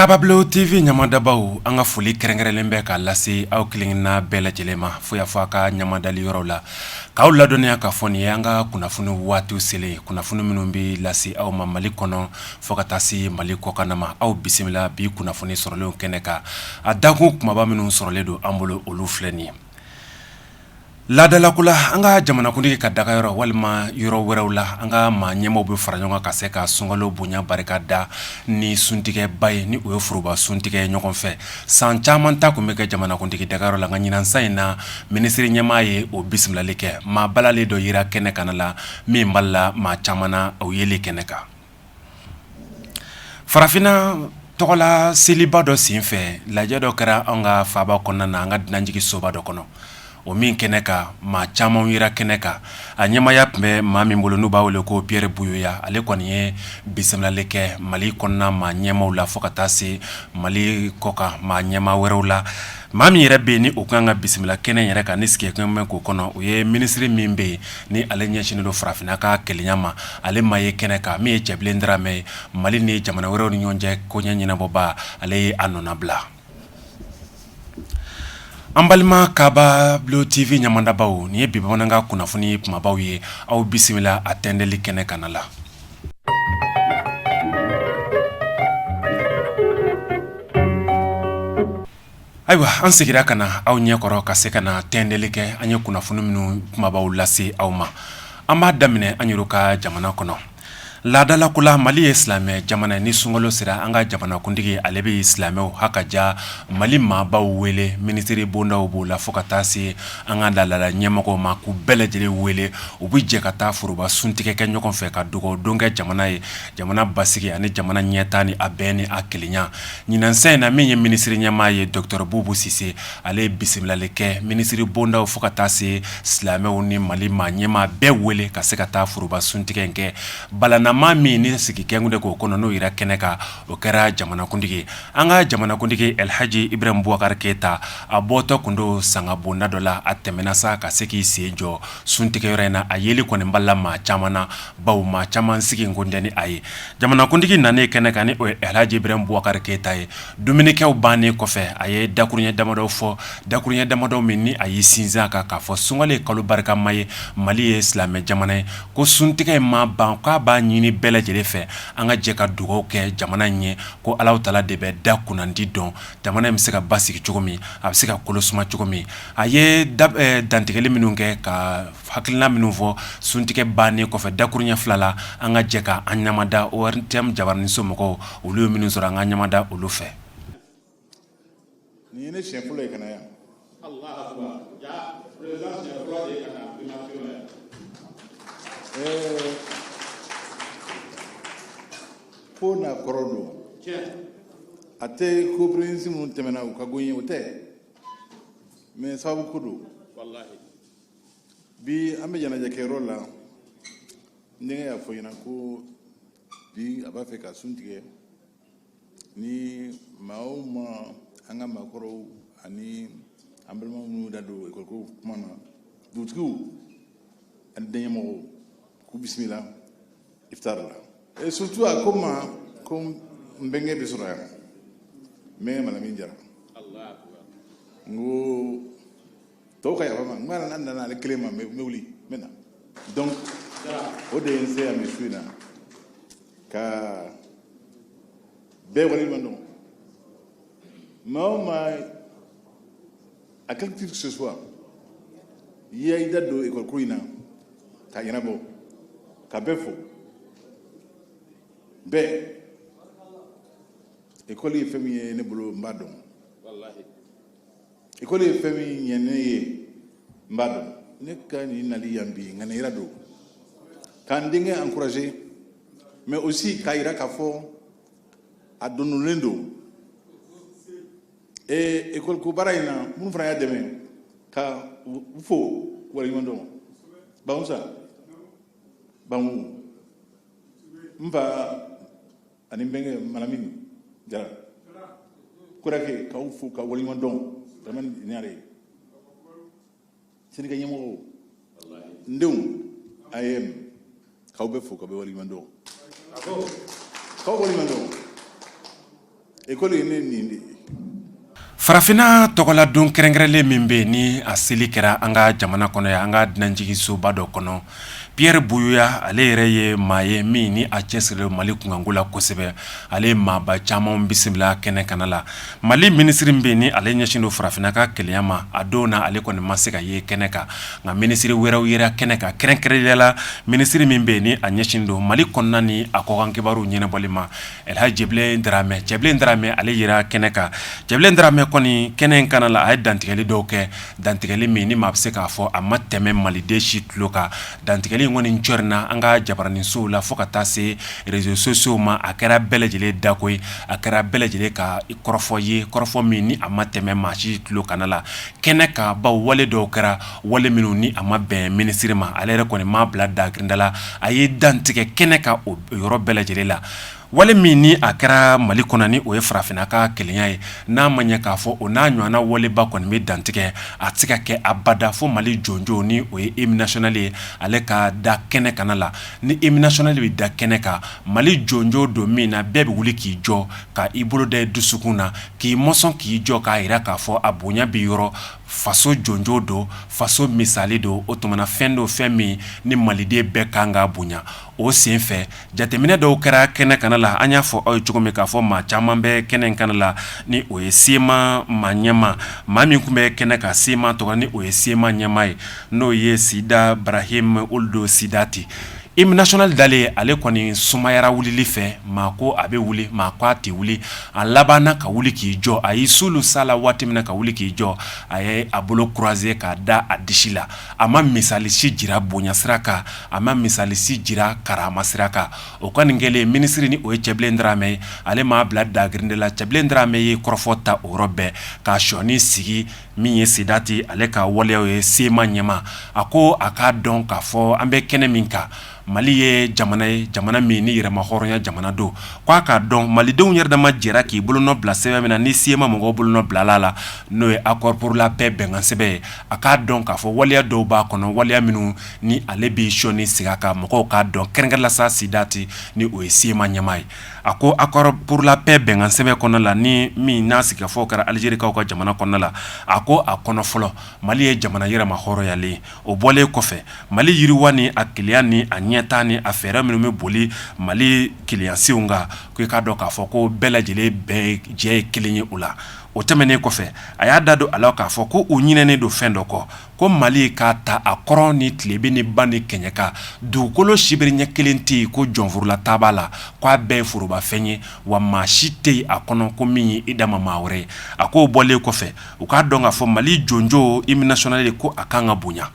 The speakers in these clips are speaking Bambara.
kababilo tv ɲamadabaw an ka foli kɛrɛnkɛrɛnlen bɛ ka lase aw kelenkelenna bɛɛ lajɛlen ma fo y'a fɔ a ka ɲamadali yɔrɔw la k'aw ladɔnniya k'a fɔ nin ye an ka kunnafoni waatiw selen kunnafoni minnu bɛ lase aw ma mali kɔnɔ Fo ka taa se mali kɔkanna ma aw bisimila bi kunnafoni sɔrɔlen kɛnɛ kan a dakun kunbaba minnu sɔrɔlen don an bolo olu filɛ ye laadalako la an ka jamanakuntigi ka dagayɔrɔ walima yɔrɔ wɛrɛw la an ka maa ɲɛmaw bɛ fara ɲɔgɔn kan ka se ka sunkalo bonya barika da ni suntigɛba ye ni o ye foroba suntigɛ ɲɔgɔn fɛ san caman ta tun bɛ kɛ jamanakuntigi dagayɔrɔ la nka ɲinan san in na minisiriri ɲɛmaa ye o bisimilali kɛ maa balalen dɔ yera kɛnɛ kanna la min balila maa caman o yelen kɛnɛ kan farafinna tɔgɔla seliba dɔ senfɛ lajɛ dɔ kɛra an ka faaba kɔnɔna na an ka dunanjiginsoba dɔ kɔnɔ o min kɛnɛ kan maa caman yera kɛnɛ kan a ɲɛmaya tun bɛ maa min bolo n'u b'a wele ko piyɛri buyoya ale kɔni ye bisimilali kɛ mali kɔnɔna maa ɲɛmaw la fo ka taa se mali kɔkan maa ɲɛma wɛrɛw la Maa min yɛrɛ bɛ yen ni o ka kan ka bisimila kɛnɛ yɛrɛ kan ni sigi bɛ k'o kɔnɔ o ye minisiriri min bɛ yen ni ale ɲɛsinnin don farafinna ka kelenya ma ale ma ye kɛnɛ kan min ye cɛbilen diramɛ ye mali ni jamana wɛrɛw ni ɲɔgɔn cɛ koɲɛ ɲɛnabɔba ale ye a nɔnabila an balima kababilo tv ɲamadabaw nin ye bi bamanankan kunnafoni kumabaw ye aw bisimila a tɛntɛnli kɛnɛ kanna la Ayiwa an seginna ka na aw ɲɛkɔrɔ ka se ka na tɛntɛnli kɛ an ye kunnafoni minnu kumabaw lase aw ma an b'a daminɛ an yɛrɛ ka jamana kɔnɔ laadalako la mali ye silamɛ jamana ni sunkalo sera an ka jamanakuntigi ale bɛ silamɛw hakaja mali maabaw wele minisiriri bondaw b'o la fo ka taa se an ka laadala ɲɛmɔgɔ ma k'u bɛɛ lajɛlen wele u bɛ jɛ ka taa foroba suntigɛ kɛ ɲɔgɔn fɛ ka dugawudon kɛ jamana ye jamana basigi ani jamana ɲɛtaa ni a bɛn ni a kelenya ɲinan san in na min ye minisiriri ɲɛmaa ye dɔkitɔrɔ bubu sise ale ye bisimilali kɛ minisiriri bondaw fo ka taa se silamɛw ni mali maa ɲɛmaa bɛɛ wele ka se ka taa foroba suntigɛ in kɛ balannamaa min ni sigi kun tɛ k'o kɔnɔ n'o yera kɛnɛ kan o kɛra jamanakuntigi An ka jamanakuntigi Alihaji Iburahimu Bubakari Keyita, a bɔtɔ tun don sanga bonda dɔ la, a tɛmɛna sa ka se k'i sen jɔ suntigɛyɔrɔ in na, a yeli kɔni balila maa caman na, bawo maa caman sigi kun tɛ ni a ye. Jamanakuntigi nanen kɛnɛ kan, ni o ye Alihaji Iburahimu Bubakari Keyita ye, dumunikɛw bannen kɔfɛ, a ye dakurunɲɛ damadɔ fɔ, dakurunɲɛ damadɔ min ni a y'i sinsin a kan k'a fɔ sunkalo ye kalo barikama ye, Mali ye silamɛ jamana ye, ko suntigɛ in ma ban, k'a b'a ɲini bɛɛ lajɛlen fɛ, an ka jɛ ka dugawu kɛ jamana in ye, ko ala tala de bɛ da kunnadi dɔn jamana in bɛ se ka basigi cogo min a bɛ se ka kolo suma cogo min a ye dantigɛli minnu kɛ ka hakilila minnu fɔ suntigɛ bannen kɔfɛ dakurunɲɛ fila la an ka jɛ k' an ɲamada ORTM jabaraninso mɔgɔw olu ye minnu sɔrɔ an ka ɲamada olu fɛ nin ye ne siɲɛ fɔlɔ ye ka na yan ko n'a kɔrɔ don a tɛ ko proviseur minnu tɛmɛna u ka go n ye o tɛ mais sababu ko don bi an bɛ ɲɛnajɛ kɛyɔrɔ la n denkɛ y'a fɔ n ɲɛna ko bi a b'a fɛ ka sun tigɛ ni maa o maa an ka maakɔrɔw ani an balima minnu da don ekɔliko kuma na dugutigiw ani diinɛ ɲɛmɔgɔw k'u bisimila iftar la et surtout a ko ma ko n bɛnkɛ bɛ sɔrɔ yan n bɛnkɛ malamin jara n ko tɔw ka yafa n ma nka n'a danna ale kelen ma n bɛ wuli n bɛ na donc o de ye n se yan bi su in na ka bɛɛ waleɲuman dɔn maa o maa à quelque titre que ce soit i y'i da don école ko in na k'a ɲɛnabɔ ka bɛɛ fo bɛɛ école ye fɛn min ye ne bolo n b'a dɔn école ye fɛn min ɲɛ ne ye n b'a dɔn ne ka nin nali yan bi ŋaniya yira don ka n denkɛ encourager mais aussi k'a yira k'a fɔ a da donlen don ee école ko baara in na minnu fana y'a dɛmɛ ka u fo waleɲuman dɔn bangusa bangu n fa ani n bɛnkɛ malamini jara kurake k'aw fo ka waleɲuman dɔn daramani ɲare ye SNEC ɲɛmɔgɔw n denw AEEM k'aw bɛɛ fo ka bɛɛ waleɲuman dɔn k'aw waleɲuman dɔn ekɔli ye ne nin de ye Farafinna tɔgɔla don kɛrɛnkɛrɛnlen min bɛ ni a seli kɛra an ka jamana kɔnɔ yan an ka dunanjiginsoba dɔ kɔnɔ Pierre Buyoya ale yɛrɛ ye maa ye min ni a cɛsirilen mali kunko la kosɛbɛ ale maaba caman bisimila kɛnɛ kan a la mali minisiri min bɛ ni ale ɲɛsin don farafinna ka kelenya ma a don in na ale kɔni ma se ka ye kɛnɛ kan nka minisiri wɛrɛw yera kɛnɛ kan kɛrɛnkɛrɛnnenya la minisiri min bɛ ni a ɲɛsin don mali kɔnɔna ni a kɔkanna kibaruw ɲɛnabɔli ma Alilha cɛbilen dramɛ cɛbilen dramɛ ale jira kɛnɛ kan cɛbilen dramɛ kɔni kɛnɛ in kana la a ye dantigɛli dɔw kɛ dantigɛli min ni maa bɛ se k'a fɔ a ma tɛmɛ maliden si tulo kan dantigɛli in kɔni c na an ka jabaraninsow la fo ka taa se rezo sosiyow ma a kɛra bɛɛ lajɛlen dako ye a kɛra bɛɛ lajɛlen ka kɔrɔfɔ ye kɔrɔfɔ min ni a ma tɛmɛ maa si tulo kana la kɛnɛ kan bawo wale dɔw kɛra wale minnu ni a ma bɛn minisiri ma ale yɛrɛ kɔni m'a bila dagirin da la a ye dantigɛ kɛnɛ kan o yɔrɔ bɛɛ lajɛlen la wale min ni a kɛra mali kɔnɔ ni o ye farafinna ka kelenya ye n'a ma ɲɛ k'a fɔ o n'a ɲɔgɔnna waleba kɔni bɛ dantigɛ a tɛ se ka kɛ abada fɔ mali jɔnjɔn ni o ye imu nasiyɔnali ye ale ka da kɛnɛ kana la ni imu nasiyɔnali de bɛ da kɛnɛ kan mali jɔnjɔn don min na bɛɛ bɛ wuli k'i jɔ ka i bolo da dusukun na k'i mɔzɔn k'i jɔ k'a jira k'a fɔ a bonya bɛ yɔrɔ faso jɔnjɔn don faso misali don o tuma na fɛn don fɛn min ni maliden bɛɛ kan ka bonya o sen fɛ jateminɛ dɔw kɛra kɛnɛ kana la an y'a fɔ aw ye cogo min k'a fɔ maa caman bɛ kɛnɛ in kana la ni o ye sema maa ɲɛmaa maa min tun bɛ kɛnɛ kan sema tɔgɔ la ni o ye sema ɲɛmaa ye n'o ye sidi barahima uludu sidati Imu nasiyɔnali dalen ale kɔni sumayara wulili fɛ maa ko a bɛ wuli maa ko a tɛ wuli a laban ka wuli k'i jɔ a ye so sa la waati min na ka wuli k'i jɔ a ye a bolo kuruwaze k'a da a disi la a ma misalisi jira bonyasira kan a ma misalisi jira karamasira kan o ka nin kɛlen minisiri ni o ye cɛbilen dramɛ ye ale m'a bila dagirin da la cɛbilen dramɛ ye kɔrɔfɔ ta o yɔrɔ bɛɛ ka shɔni sigi min ye sidati ale ka waleyaw ye sema ɲɛmaa a ko a k'a dɔn k'a fɔ an bɛ kɛnɛ min kan mali ye jamana ye jamana min ni yɛrɛmahɔrɔnya jamana don ko a k'a dɔn malidenw yɛrɛ dama jɛra k'i bolo nɔ bila sɛbɛn min na ni sema mɔgɔ bolo nɔ bilala a la n'o ye akɔri puru la pɛ bɛnkansɛbɛn ye a k'a dɔn k'a fɔ waleya dɔw b'a kɔnɔ waleya minnu ni ale b'i sɔɔni sigi ka mɔgɔw k'a dɔn kɛrɛnkɛrɛn la sa sidati ni o ye sema ɲɛmaa ye a ko akɔri puru la pɛ bɛnkansɛbɛn kɔnɔna la ni min n'a sigikafɔw kɛra alizerikaw ka jamana kɔnɔna la a ko a kɔnɔ fɔlɔ mali ye jamana yɛrɛmahɔrɔnyalen o bɔlen kɔfɛ mali yiriwa ni a kelenya ni a ɲɛtaa ni a fɛɛrɛ minnu bɛ boli mali kelenyasenw kan k'i k'a dɔn k'a fɔ ko bɛɛ lajɛlen bɛɛ jɛ ye kelen ye o la o tɛmɛnen kɔfɛ a y'a da don a la k'a fɔ ko u ɲinɛnen don fɛn dɔ kɔ ko mali k'a ta a kɔrɔn ni tilebin ni ba ni kɛɲɛka dugukolo sibiri ɲɛ kelen tɛ yen ko jɔnforola ta b'a la k'a bɛɛ ye forobafɛn ye wa maa si tɛ yen a kɔnɔ ko min ye i dama maa wɛrɛ ye a k'o bɔlen kɔfɛ u k'a dɔn k'a fɔ mali jɔnjɔn imu nasiyɔnali ko a ka kan ka bonya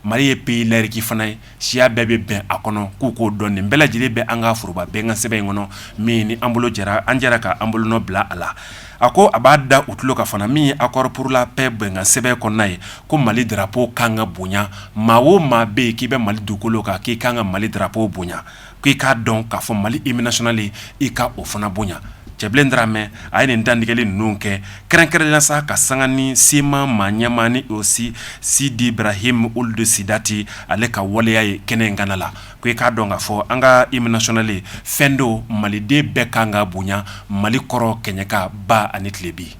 mali ye peyi layiriki fana ye siya bɛɛ bɛ bɛn a kɔnɔ k'u k'o dɔn nin bɛɛ lajɛlen bɛ an ka foroba bɛnkansɛbɛn in kɔnɔ min ni an bolo jɛra an jɛra ka an bolonɔ bila a la a ko a b'a da u tulo kan fana min ye akɔri puru la pɛ bɛnkansɛbɛn kɔnɔna ye ko mali darapo ka kan ka bonya maa o maa bɛ yen k'i bɛ mali dugukolo kan k'i kan ka mali darapo bonya ko i k'a dɔn k'a fɔ mali hymne national i ka o fana bonya Cɛbilen Daramɛ a ye nin dantigɛli ninnu kɛ kɛrɛnkɛrɛnya sa ka sanga ni CMA maa ɲɛmaa ni o si Sidi Brahim Ould Sidati ale ka waleya ye kɛnɛ in kana la ko e k'a dɔn k'a fɔ an ka hymne national fɛn don maliden bɛɛ kan ka bonya mali kɔrɔn kɛɲɛka ba ani tilebi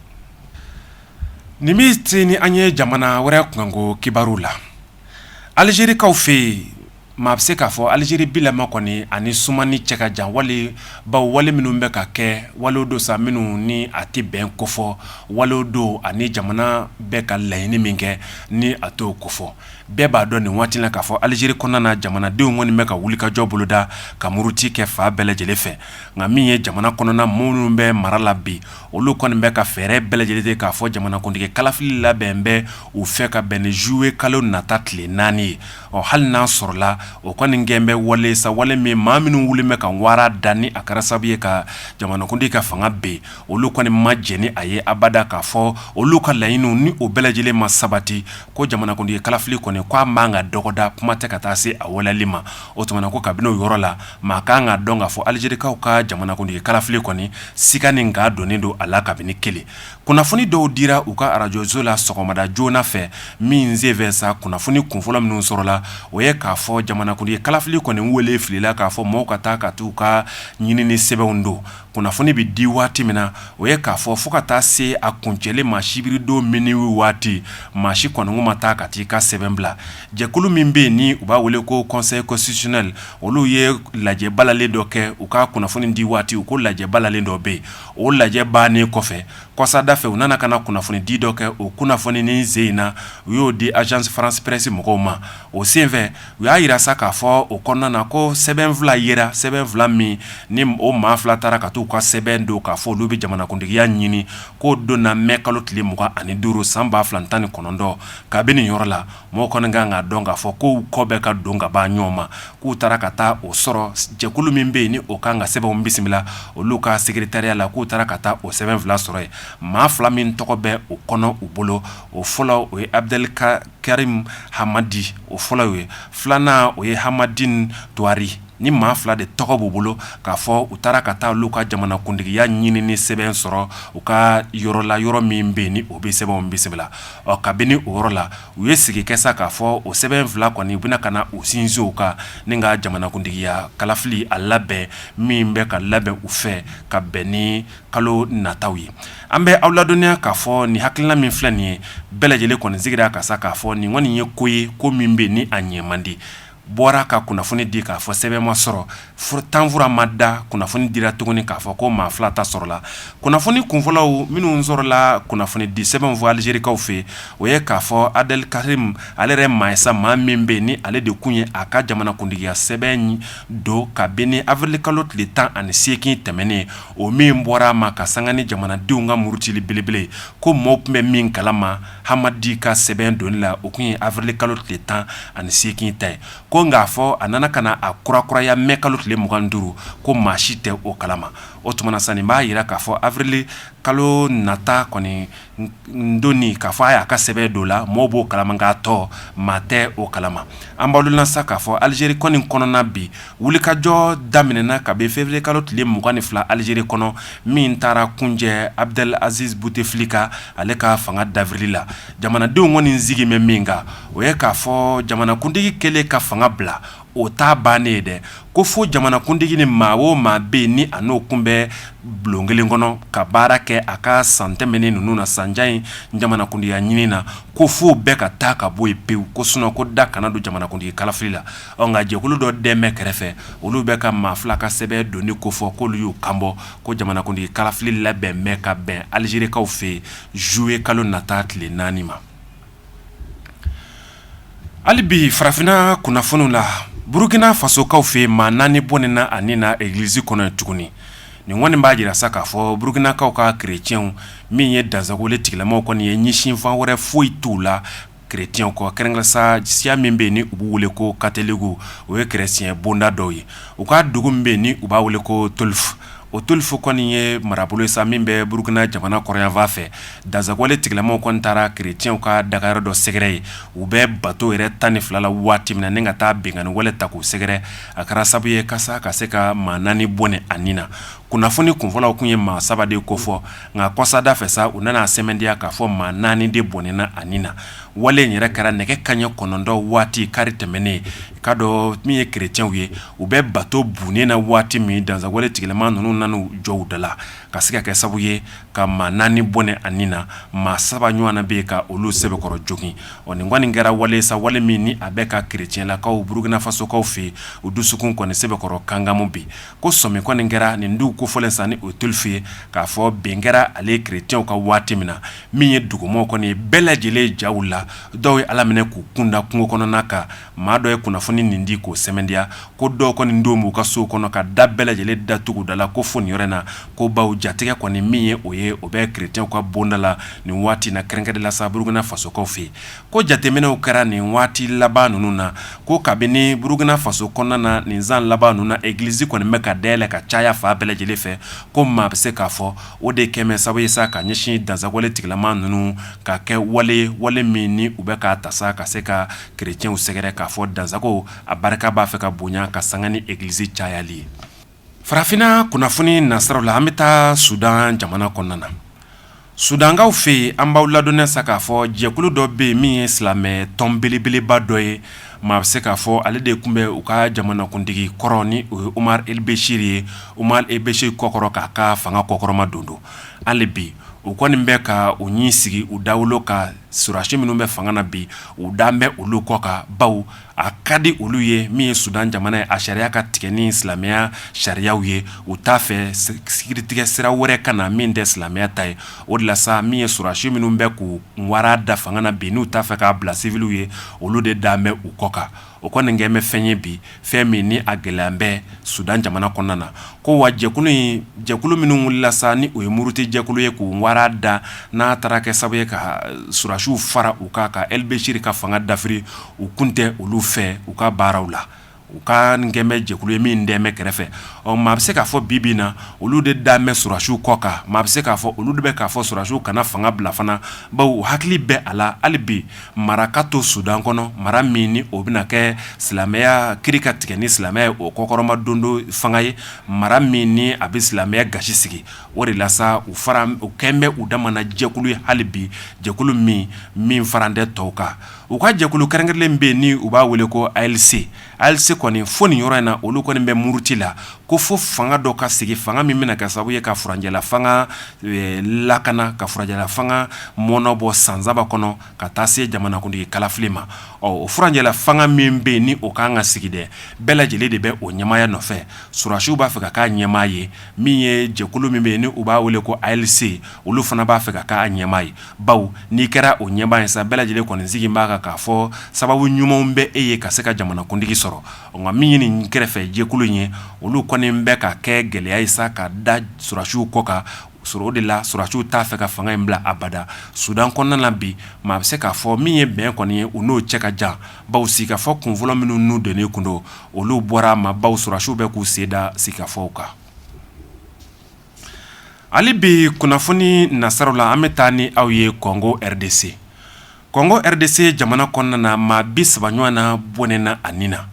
nin bɛ se ni an ye jamana wɛrɛ kunkanko kibaru la alizerikaw fɛ yen Maa bɛ se k'a fɔ aliziri bi la kɔni a ni sumani cɛ ka jan walebaw wale minnu bɛ ka kɛ walew don sa minnu ni a tɛ bɛn kofɔ walew don ani jamana bɛ ka laɲini min kɛ ni a t'o kofɔ bɛɛ b'a dɔn nin waati la k'a fɔ aliziri kɔnɔna jamanadenw kɔni bɛ ka wulikajɔ boloda ka muruti kɛ fan bɛɛ lajɛlen fɛ nka min ye jamana kɔnɔna maa minnu bɛ mara la bi olu kɔni bɛ ka fɛɛrɛ bɛɛ lajɛlen k'a fɔ jamanakuntigi kalafili labɛn bɛ u fɛ ka bɛn ni zuluyekalo nata tile naani ye ɔ hali n'a sɔrɔla o kɔni gɛn bɛ wale sa wale min maa minnu wulilen bɛ ka wara dan ni a kɛra sababu ye ka jamanakuntigi ka fanga bin olu kɔni ma jɛn ni a ye abada k'a fɔ olu ka laɲiniw ni o bɛɛ lajɛlen ma sabati ko jamanakuntigi kalafili kɔni k'a man kan ka dɔgɔda kuma tɛ ka taa se a waleyali ma o tuma na ko kabini o yɔrɔ la maa ka kan k'a dɔn k'a fɔ alizerikaw ka jamanakuntigi kalafili kɔni siga ni ka donnen don a la kabini kelen Kunnafoni dɔw dira u ka arajoso la sɔgɔmada joona fɛ min senfɛ sa kunnafoni kunfɔlɔ minnu sɔrɔla o ye k'a fɔ jamanakuntigi kalafili kɔni wele filila k'a fɔ maaw ka taa ka taa u ka ɲinini sɛbɛnw don kunnafoni bɛ di waati min na o ye k'a fɔ fo ka taa se a kuncɛli ma sibiridon minuit waati maa si kɔni ma taa ka taa i ka sɛbɛn bila jɛkulu min bɛ yen ni u b'a wele ko Conseil constitutionnel olu ye lajɛ balalen dɔ kɛ u ka kunnafoni di waati u ko lajɛ balalen dɔ bɛ yen o lajɛ bannen kɔfɛ kɔsa da fɛ u nana ka na kunnafonidi dɔ kɛ o kunnafoni ni sen in na u y'o di Agence France Presse mɔgɔw ma o senfɛ u y'a jira sa k'a fɔ o kɔnɔna na ko sɛbɛn fila yera sɛbɛn fila min ni o maa fila taara ka taa u ka sɛbɛn don k'a fɔ olu bɛ jamanakuntigiya ɲini k'o donna mɛ kalo tile mugan ani duuru san ba fila ni tan ni kɔnɔntɔn kabini nin yɔrɔ la mɔgɔ kɔni kan k'a dɔn k'a fɔ ko kɔ bɛ ka don ka ban ɲɔgɔn ma k'u taara ka taa o sɔrɔ jɛkulu min bɛ yen ni o kan ka sɛbɛnw bisimila olu ka sekeretariya la k'u taara ka taa o sɛbɛn fila sɔrɔ yen maa fila min tɔgɔ bɛ o kɔnɔ u bolo o fɔlɔ o ye Abdel Karim Hamadi o fɔlɔ ye filanan o ye Hamid Touahri nin maa fila de tɔgɔ b'u bolo k'a fɔ u taara ka taa olu ka jamanakuntigiya ɲinini sɛbɛn sɔrɔ u ka yɔrɔ la yɔrɔ min bɛ ni o bɛ sɛbɛn bɛ sɛbɛn ɔ kabini o yɔrɔ la u ye sigi kɛ sa k'a fɔ o sɛbɛn fila kɔni u bɛna ka na u sinsin u kan ni ka jamanakuntigiya kalafili a labɛn min bɛ ka labɛn u fɛ ka bɛn ni kalo nata ye an bɛ aw ladɔnniya k'a fɔ nin hakilina min filɛ nin ye bɛɛ lajɛlen kɔni sigira a kan sa k'a fɔ nin kɔni ye ko ye ko min bɛ ni a ɲɛ man di bɔra ka kunnafoni di k'a fɔ sɛbɛn ma sɔrɔ furu tanfura ma da kunnafoni dira tuguni k'a fɔ ko maa fila ta sɔrɔla kunnafoni kunfɔlɔw minnu sɔrɔla kunnafoni di sɛbɛn fɔ alizerikaw fɛ yen o ye k'a fɔ abdelkarim ale yɛrɛ maasa maa min bɛ ni ale de tun ye a ka jamanakuntigiya sɛbɛn don ka bɛn ni awirili kalo tile tan ani seegin tɛmɛnen o min bɔra a ma ka sanga ni jamanadenw ka murutili belebele ko maaw tun bɛ min kalama hamadi ka sɛbɛn donni la o tun ye awirili kalo tile tan ani seegin ta ye ko k'a fɔ a nana ka na a kura kuraya mɛ kalo tile mugan duuru ko maa si tɛ o kalama o tuma na sa nin b'a jira k'a fɔ awirili kalo nata kɔni donni k'a fɔ a y'a ka sɛbɛn don la maaw b'o kalama nka a tɔ maa tɛ o kalama an b'o la sa k'a fɔ alizeri kɔni kɔnɔna bi wulikajɔ daminɛna kabini feburuye kalo tile mugan ni fila alizeri kɔnɔ min taara kuncɛ abdelaziz butefilika ale ka fanga dafirili la jamanadenw kɔni sigi bɛ min kan o ye k'a fɔ jamanakuntigi kelen ka fanga bila o ta bannen ye dɛ ko fo jamanakuntigi ni maa o maa bɛ ni a n'o tun bɛ bulon kelen kɔnɔ ka baara kɛ a ka san tɛmɛnen ninnu na sanjan in jamanakuntigiya ɲinin na ko fo bɛɛ ka taa ka bɔ yen pewu ko sun ko da kana don jamanakuntigi kalafili la Ɔ nka jɛkulu dɔ de bɛ kɛrɛfɛ olu bɛ ka maa fila ka sɛbɛn donni kofɔ k'olu y'u kanbɔ ko jamanakuntigi kalafili labɛn bɛ ka bɛn alizerikaw fɛ yen zuluye kalo nata tile naani ma hali bi farafinna kunnafoni la burukina fasokaw fɛ yen maa naani bɔnɛna a ni na egilisi kɔnɔ tuguni nin kɔni b'a jira sa k'a fɔ burukinakaw ka kirecɛnw min ye dansagonwale tigilamaw kɔni ye ɲɛsinfan wɛrɛ foyi t'a la Krecɛn kɔ kɛrɛnkɛrɛnnen sa siya min bɛ ni u b'u weele ko katoliki o ye kerecɛn bonda dɔ ye u ka dugu min bɛ ni u b'a weele ko tulufe o tulufe kɔni ye marabolo sa min bɛ burukina jamana kɔrɔnyanfan fɛ dansagonwale tigilamaw kɔni taara krecɛnw ka dagayɔrɔ dɔ sɛgɛrɛ ye u bɛ bato yɛrɛ tan ni filala waati min na ni ka taa binkanniwale ta k'u sɛgɛrɛ a kɛra sababu ye ka ka se ka maa naani bɔnɛ a ni na kunnafoni kunfɔlɔw tun ye maa saba de kofɔ nka kɔsa da fɛ sa u nana sɛmɛntiya k'a fɔ maa naani de bɔnɛna a ni na wale in yɛrɛ kɛra nɛgɛ kanɲɛ kɔnɔntɔn waati kari tɛmɛnen ka don min ye kirecɛnw ye u bɛ batobon in na waati min dansagonwale tigilamaw ninnu nana jɔ u da la ka se ka kɛ sababu ye ka maa naani bɔnɛ a ni na maa saba ɲɔgɔnna bɛ yen ka olu sɛbɛkɔrɔ jogin ɔ nin kɔni kɛra wale sa wale min ni a bɛ ka kirecɛnlakaw burukinafasokaw fɛ yen u dusukun kɔni sɛbɛkɔrɔ kankanmu bi ko sɔmi kɔni kɛra nin dugu kofɔlen sa ni o tulufe ye k'a fɔ bin kɛra ale kirecɛnw kan waati min na min ye dugumaaw kɔni ye bɛɛ lajɛlen ja wulila dɔw ye ala minɛ k'u kunda kungo kɔnɔna kan maa dɔ ye kunnafoni nin di k'o sɛmɛntiya ko dɔw kɔni don b'u ka so kɔnɔ ka da bɛɛ lajɛlen datugu da la ko fo nin yɔrɔ in na ko bawo jatigɛ kɔni min ye o ye o bɛ kirecɛnw ka bonda la nin waati na kɛrɛnkɛrɛnnenya la sa burukina fasokaw fɛ yen ko jateminɛw kɛra nin waati laban ninnu na ko kabini burukina faso kɔnɔna na nin san laban ninnu na egilisi kɔni bɛ ka dayɛlɛ ka caya fan bɛɛ lajɛlen fɛ ko maa bɛ se k'a fɔ o de kɛlen bɛ sababu ye sa ka ɲɛsin dansagowale tigilamaa ninnu ka kɛwale ye wale min ni u bɛ ka ta sa ka se ka kerecɛnw sɛgɛrɛ k'a fɔ dansago a barika b'a fɛ ka bonya ka sanga ni egilisi cayali ye Farafinna kunnafoni nasiraw la an bɛ taa sudan jamana kɔnɔna na sudankaw fɛ yen an b'aw ladɔnniya sa k'a fɔ jɛkulu dɔ bɛ yen min ye silamɛ tɔn belebeleba dɔ ye maa bɛ se k'a fɔ ale de tun bɛ u ka jamanakuntigi kɔrɔ ni o ye omar el beshir ye omar el beshir kɔkɔrɔ k'a ka fanga kɔkɔrɔma don don hali bi u kɔni bɛ ka u ɲin sigi u dawolo kan sɔrɔdasi minnu bɛ fanga na bi u dalen bɛ olu kɔ kan baw a ka di olu ye min ye sudan jamana ye a sariya ka tigɛ ni silamɛya sariyaw ye u t'a fɛ sariyatigɛ sira wɛrɛ ka na min tɛ silamɛya ta ye o de la min ye sɔrɔdasi minnu bɛ k'u wara da fanga na bi n'u t'a fɛ k'a bila siwiliw ye olu de dalen bɛ u kɔ kan o kɔni nin kɛlen bɛ fɛn ye bi fɛn min ni a gɛlɛya bɛ sudan jamana kɔnɔna na ko wa jɛkulu in jɛkulu minnu wulila sa ni u ye muruti jɛkulu ye k'u wara da n'a taara kɛ sababu ye ka sɔrɔdasiw fara u kan ka el beshir ka fanga dafiri u kun tɛ olu fɛ u ka baaraw la u kɔni kɛlen bɛ jɛkulu ye min dalen bɛ kɛrɛfɛ ɔ maa bɛ se k'a fɔ bibi na olu de dalen bɛ sɔrɔdasiw kɔ kan maa bɛ se k'a fɔ olu de bɛ k'a fɔ sɔrɔdasiw kana fanga bila fana baw hakili bɛ a la hali bi mara ka to sudan kɔnɔ mara min ni o bɛna kɛ silamɛya kiri ka tigɛ ni silamɛ ye o kɔkɔrɔma dondo fanga ye mara min ni a bɛ silamɛya gasi sigi o de la u fara u kɛlen bɛ u dama jɛkulu ye hali bi jɛkulu min min faralen tɛ tɔw kan U ka jɛkulu kɛrɛnkɛrɛnnen bɛ yen ni u b'a wele ko ALC ALC kɔni fo nin yɔrɔ in na olu kɔni bɛ muruti la ko fo fanga dɔ ka sigi fanga min bɛna kɛ sababu ye ka furancɛla fanga lakana ka furancɛla fanga mɔɔnɔbɔ san saba kɔnɔ ka taa se jamanakuntigi kalafili ma ɔ o furancɛla fanga min bɛ yen ni o ka kan ka sigi dɛ bɛɛ lajɛlen de bɛ o ɲɛmaaya nɔfɛ sɔrɔdasiw b'a fɛ ka k'a ɲɛmaa ye min ye jɛkulu min bɛ yen ni u b'a wele ko ALC olu fana b'a fɛ ka k'a ɲɛmaa ye baw n'i kɛra o ɲɛmaa ye sa bɛɛ lajɛlen kɔni jigi b'a kan k'a fɔ sababu ɲumanw bɛ e ye ka se ka jamanakuntigi sɔrɔ nka min ye nin kɛrɛfɛ jɛkulu in ye olu kɔni bɛ ka kɛ gɛlɛya ye sa ka da sɔrɔdasiw kɔ kan sa o de la sɔrɔdasiw t'a fɛ ka fanga in bila abada sudan kɔnɔna na bi maa bɛ se k'a fɔ min ye bɛn kɔni ye u n'o cɛ ka jan baw sigikafɔ kunfɔlɔ minnu n'u don kun don olu bɔra maa baw sɔrɔdasiw bɛ k'u sen da sigikafɔw kan Hali bi kunnafoni nasiraw la an bɛ taa ni aw ye Congo RDC, Congo RDC jamana kɔnɔna na maa 30 ɲɔgɔnna bɔnɛna a ni na,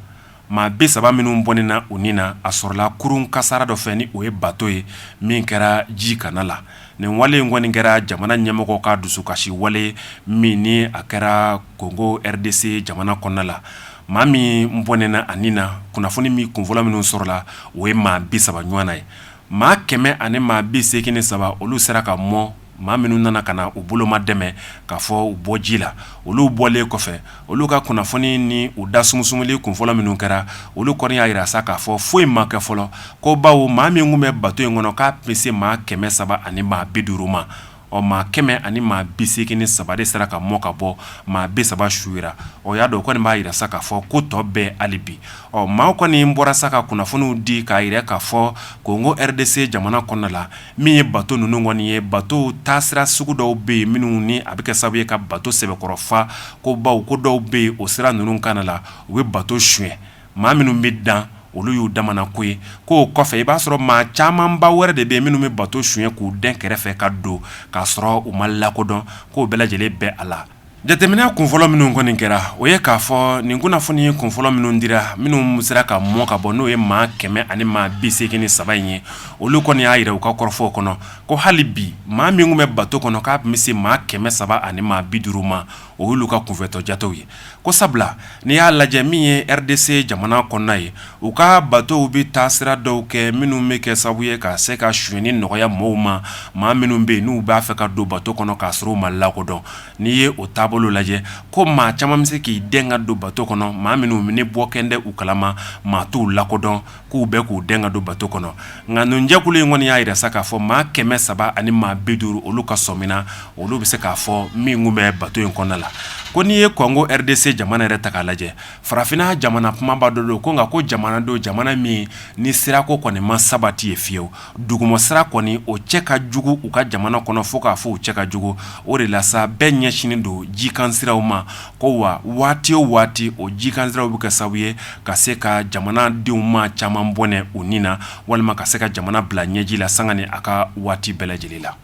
maa 30 minnu bɔnɛna u ni na a sɔrɔla kurun kasara dɔ fɛ ni o ye bateau ye min kɛra ji kanna la, nin wale in kɔni kɛra jamana ɲɛmɔgɔ ka dusukasi wale ye min ni a kɛra Congo RDC jamana kɔnɔna la, maa min bɔnɛna a ni na, kunnafoni min kunfɔlɔ minnu sɔrɔla o ye maa 30 ɲɔgɔnna ye. maa kɛmɛ ani maa bi segin ni saba olu sera ka mɔ maa minnu nana ka na u bolomadɛmɛ ka fɔ u bɔ ji la olu bɔlen kɔfɛ olu ka kunnafoni ni u da sumusumuli kun fɔlɔ minnu kɛra olu kɔni y'a jira sa k'a fɔ foyi ma kɛ fɔlɔ ko bawo maa min tun bɛ bato in kɔnɔ k'a tun bɛ se maa kɛmɛ saba ani maa bi duuru ma ɔ maa kɛmɛ ani maa bi segin ni saba de sera ka mɔ ka bɔ maa bi saba su yera o y'a dɔn kɔni b'a jira sa k'a fɔ ko tɔ bɛɛ hali bi ɔ maaw kɔni bɔra sa ka kunnafoniw di k'a jira k'a fɔ Congo RDC jamana kɔnɔna la min ye bato ninnu kɔni ye batow taasira sugu dɔw bɛ yen minnu ni a bɛ kɛ sababu ye ka bato sɛbɛkɔrɔ fa ko bawo ko dɔw bɛ yen o sira ninnu kanna la u bɛ bato sonyɛ maa minnu bɛ dan olu y'u dama ko ye k'o kɔfɛ i b'a sɔrɔ maa camanba wɛrɛ de bɛ minnu bɛ bato sonyɛ k'u dɛn kɛrɛfɛ ka don k'a sɔrɔ u ma lakodɔn k'o bɛɛ lajɛlen bɛ a la jateminɛ kun fɔlɔ minnu kɔni kɛra o ye k'a fɔ nin kunnafoni kun fɔlɔ minnu dira minnu sera ka mɔ ka bɔ n'o ye maa kɛmɛ ani maa bi segin ni saba in ye olu kɔni y'a jira u ka kɔrɔfɔw kɔnɔ ko hali bi maa min tun bɛ bato kɔnɔ k'a bɛ se maa kɛmɛ saba ani maa bi duuru ma o y'olu ka kunfɛtɔ jatew ye ko sabula n'i y'a lajɛ min ye RDC jamana kɔnɔna ye u ka batow bɛ taa sira dɔw kɛ minnu bɛ kɛ sababu ye ka se ka sonyɛni nɔgɔya maaw ma maa minnu bɛ yen n'u b'a fɛ ka don bato kɔnɔ k'a sɔrɔ u ma lakodɔn n'i ye o taabolo lajɛ ko maa caman bɛ se k'i dɛn ka don bato kɔnɔ maa minnu ni mɔgɔ kelen tɛ u kalama maa t'u lakodɔn k'u bɛ k'u dɛn ka don bato kɔnɔ nka nin jɛkulu in kɔni y'a jira sa k'a fɔ maa kɛmɛ saba ani maa bi duuru olu ka sɔmi na olu bɛ se k'a fɔ min tun bɛ bato in kɔnɔna la ko n'i ye Congo RDC jamana yɛrɛ ta k'a lajɛ farafinna jamana kunbaba dɔ don ko nka ko jamana don jamana min ni sirako kɔni ma sabati yen fiyewu dugumasira kɔni o cɛ ka jugu u ka jamana kɔnɔ fo k'a fɔ u cɛ ka jugu o de la sa bɛɛ ɲɛsinnen don jikansiraw ma ko wa waati o waati o jikansiraw bɛ kɛ sababu ye ka se ka jamana denw maa caman bɔnɛ u ni na walima ka se ka jamana bila ɲɛji la sanga ni a ka waati bɛɛ lajɛlen la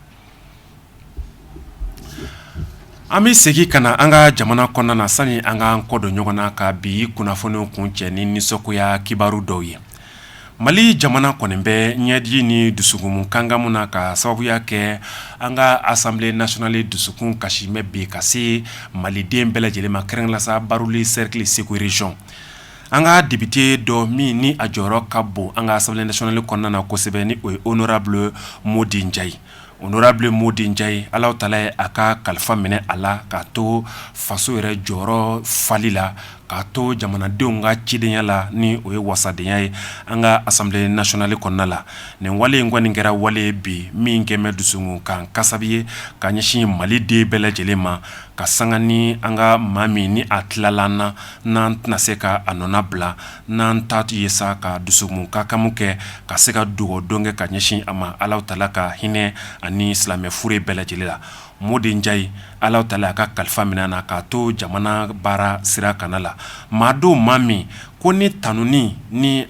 An bɛ segin ka na an ka jamana kɔnɔna na sani an ka kɔ don ɲɔgɔn na ka bi kunnafoniw kuncɛ ni nisɔngoya kibaru dɔw ye mali jamana kɔni bɛ ɲɛji ni dusukun kankanmu na ka sababuya kɛ an ka assemblée nationale dusukun kasi min bɛ ka se maliden bɛɛ lajɛlen ma kɛrɛnlasa Baroweli sɛrikili Segu région an ka depite dɔ min ni a jɔyɔrɔ ka bon an ka assemblée nationale kɔnɔna na kosɛbɛ ni o ye honorable Modi Njayi ye honorable Modi Njayi ala taala ye a ka kalifa minɛ a la k'a to faso yɛrɛ jɔyɔrɔ fali la k'a to jamanadenw ka cidenya la ni o ye wasadenya ye an ka assemblée nationale kɔnɔna la nin wale in kɔni kɛra wale ye bi min kɛlen bɛ dusukun kasi ye ka ɲɛsin maliden bɛɛ lajɛlen ma ka sanga ni an ka maa min ni a tilala na n'an tɛna se ka a nɔnabila n'an ta ye sa ka dusukun kankanmu kɛ ka se ka dugawu don kɛ ka ɲɛsin a ma ala taala ka hinɛ a ni silamɛ fure bɛɛ lajɛlen la Modi Njayi ala taala y'a ka kalifa minɛ a la k'a to jamana baara sira kana la maa don maa min ko ni tanuni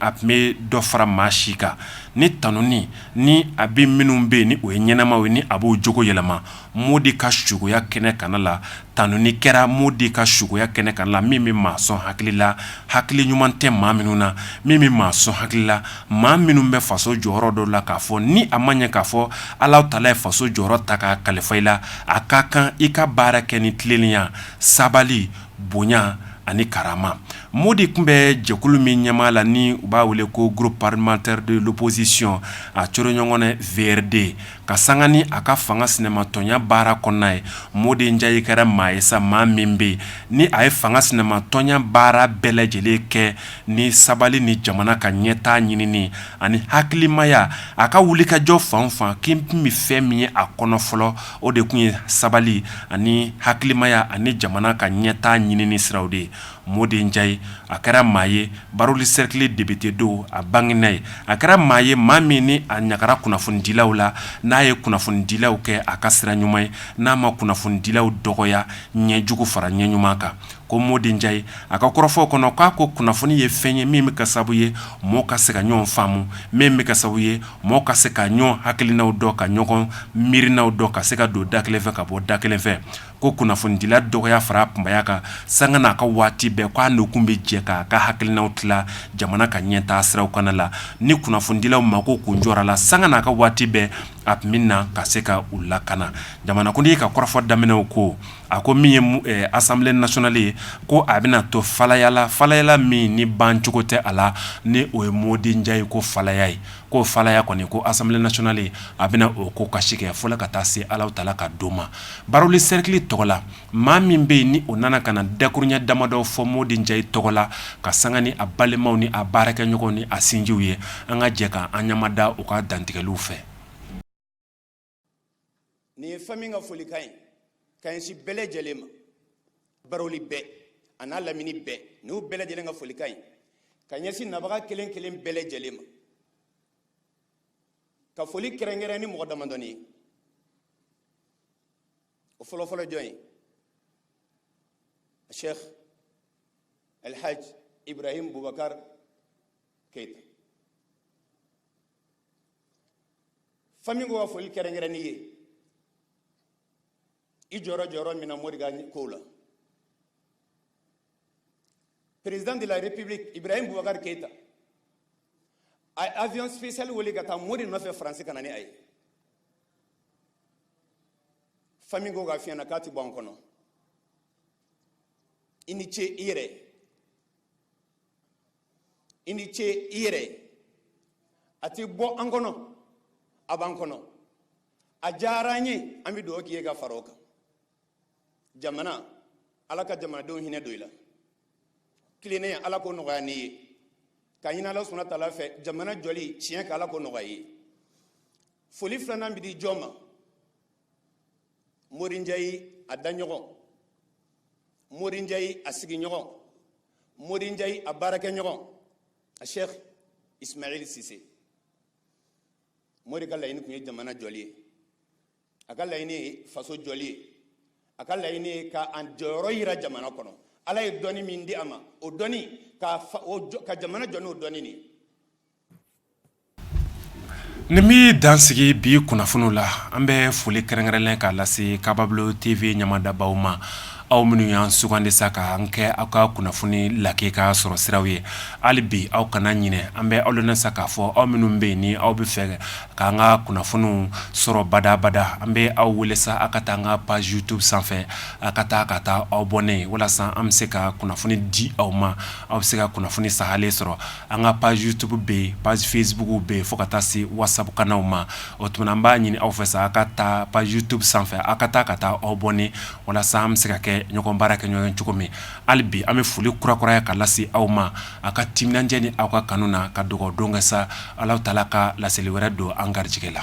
a tun bɛ dɔ fara maa si kan ni tanuni a bɛ minnu bɛ yen ni o ye ɲɛnamaw ye ni a b'o cogo yɛlɛma Modi ka sogoya kɛnɛ kana la tanuni kɛra Modi ka sogoya kɛnɛ kana la min bɛ maa sɔn hakilila hakili ɲuman tɛ maa minnu na min bɛ maa sɔn hakilila maa minnu bɛ faso jɔyɔrɔ dɔ la k'a fɔ ni a ma ɲɛ k'a fɔ ala taala ye faso jɔyɔrɔ ta ka kalifa i la a ka kan i ka baara kɛ ni tilennenya sabali bonya ani karama Modi tun bɛ jɛkulu min ɲɛmaaya la ni u b'a wele ko groupe parlementaire de l'opposition a coro ɲɔgɔn na VRD ka sanga ni a ka fanga sinamatɔnya baara kɔnɔna ye Modi Njayi kɛra maa ye sa maa min bɛ yen ni a ye fanga sinamatɔnya baara bɛɛ lajɛlen kɛ ni sabali ni jamana ka ɲɛtaa ɲinini ani hakilimaya a ka wulikajɔ fan fan k'i tun bɛ fɛn min ye a kɔnɔ fɔlɔ o de tun ye sabali ani hakilimaya ani jamana ka ɲɛtaa ɲinini siraw de ye Modi Njayi a kɛra maa ye Baroweli sɛrikili depite don a bangera yen a kɛra maa ye maa min ni a ɲagara kunnafonidilaw la n'a ye kunnafonidilaw kɛ a ka sira ɲuman ye n'a ma kunnafonidilaw dɔgɔya ɲɛ jugu fara ɲɛ ɲuman kan ko Modi Njayi a ka kɔrɔfɔw kɔnɔ k'a ko kunnafoni ye fɛn ye min bɛ kɛ sababu ye mɔgɔ ka se ka ɲɔgɔn faamu min bɛ kɛ sababu ye mɔgɔ ka se ka ɲɔgɔn hakilinaw dɔn ka ɲɔgɔn miirinaw dɔn ka se ka don da kelen fɛ ka bɔ da kelen fɛ ko kunnafonidila dɔgɔya fara kunbaya kan sanga n'a ka waati bɛɛ k'a n'u kun bɛ jɛ k'a ka hakilinaw tila jamana ka ɲɛtaa siraw kana la ni kunnafonidilaw mako kun jɔra a la sanga n'a ka waati bɛɛ a tun min na ka se ka u lakana jamana kuntigi ka kɔrɔfɔ daminɛw ko a ko min ye assemblée nationale ye ko a bɛna to falaya la falaya min ni bancogo tɛ a la ni o ye Modi Njayi kɔ falaya ye ko falaya kɔni ko assemblée nationale a bɛna o ko kasi kɛ fo ka taa se alahutaala ka don ma barouli sɛrikili tɔgɔ la maa min bɛ yen ni o nana ka na dakurunɲɛ damadɔ fɔ modi njayi tɔgɔ la ka sanga ni a balimaw ni a baarakɛɲɔgɔnw ni a sinjiw ye an ka jɛ k' an ɲamada u ka dantigɛliw fɛ nin ye fami ka folikan ye ka ɲɛsin bɛɛ lajɛlen ma baroli bɛɛ a n'a lamini bɛɛ n'u bɛɛ lajɛlen ka folikan ye ka ɲɛsin nabaga kelen kelen bɛɛ lajɛlen ma ka foli kɛrɛnkɛrɛn ni mɔgɔ damadɔnin ye o fɔlɔfɔlɔ jɔn ye sheikh alhaj ibrahim bubakar keyita fami ko ka foli kɛrɛnkɛrɛn n'i ye i jɔra jɔyɔrɔ min na mori ka ko la président de la république ibrahim boubacar keita a ye avion spécial wuli ka taa mori nɔfɛ faransi ka na ni a ye fami ko k'a f'i ɲɛ na k'a ti bɔ an kɔnɔ i ni ce i yɛrɛ i ni ce i yɛrɛ ye a ti bɔ an kɔnɔ a b'an kɔnɔ a diyara an ye an bɛ dugawu k'i ye ka fara o kan jamana ala ka jamanadenw hinɛ don i la tilennenya ala k'o nɔgɔya n'i ye k'a ɲini ala subahana taala fɛ jamana jɔli tiɲɛ kan ala k'o nɔgɔya i ye foli filanan bi di jɔn ma mori njayi a daɲɔgɔn mori njayi a sigiɲɔgɔn mori njayi a baarakɛɲɔgɔn a sheikh ismail sise mori ka laɲini tun ye jamana jɔli ye a ka laɲini ye faso jɔli ye a ka laɲini ye ka an jɔyɔrɔ yira jamana kɔnɔ ala ye dɔnni min di a ma o dɔnni kan ka jamana jɔ n'o dɔnni de ye Nin bɛ dansigi bi kunnafoni la an bɛ foli kɛrɛnkɛrɛnlen k'a lase kabablon tv ɲamadabaw ma aw minnu y an sugandi sa ka an kɛ aw ka kunnafoni lakika sɔrɔ siraw ye hali bi aw kana ɲinɛ an bɛ aw laɲini sa k'a fɔ aw minnu bɛ yen ni aw b'a fɛ k'an ka kunnafoniw sɔrɔ badabada an bɛ aw wele sa aw ka taa an ka page youtube sanfɛ aw ka taa ka taa aw abonner walasa an bɛ se ka kunnafoni di aw ma aw bɛ se ka kunnafoni sahalen sɔrɔ an ka page youtube bɛ yen page facebook bɛ yen fo ka taa se whatsapp kanw ma o tuma na an b'a ɲini aw fɛ sa aw ka taa page youtube sanfɛ aw ka taa ka taa aw abonner walasa an bɛ se ka kɛ ɲɔgɔn baarakɛɲɔgɔn cogo min hali bi an bɛ foli kurakuraya ka lase aw ma aw ka timinandiya ni aw ka kanu na ka dugawudon kɛ sa alahutaala ka laseli wɛrɛ don an garijɛgɛ la